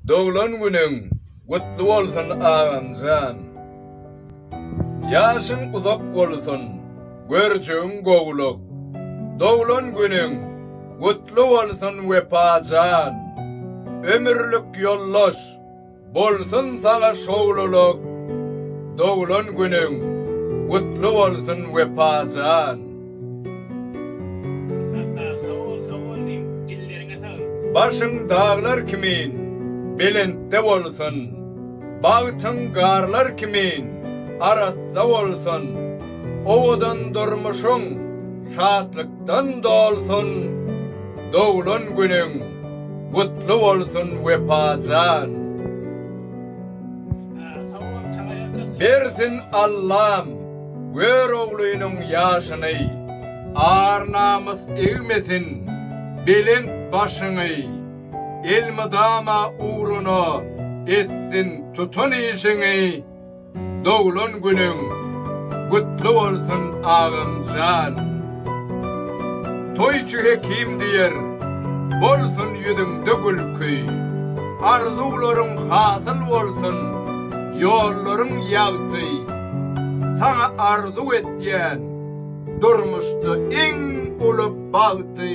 Doglan günüň gutly bolsun agamjan. Ýaşyň uzak bolsun, görjegiň gowluk. Doglan günüň gutly bolsun Wepajan. Ömürlik ýoldaş. Bolsun saňa şowlulyk! Doglan günüň gutly bolsun Wepajan! Sassa sag bol sag bol diýiň dilleriňe saglyk. Başyň daglar kimin belentde bolsun, bagtyň garlar kimin arassa bolsun, owadan durmuşyň şatlykdan dolsun, doglan günüň Gutly bolsun Wepajan. Bersin Allam gör oglynyň ýaşyny Ar namys egmesin belent başyňy Elmydama ugruna etsin tutan işiňi Doglan günüň gutly bolsun agamjan. Toýçy Hekim diýer, bolsun ýüzüňde gülki, Arzuwlaryň hasyl bolsun, ýollaryň ýagty. Saňa arzuw etýän durmuşda iň uly bagty.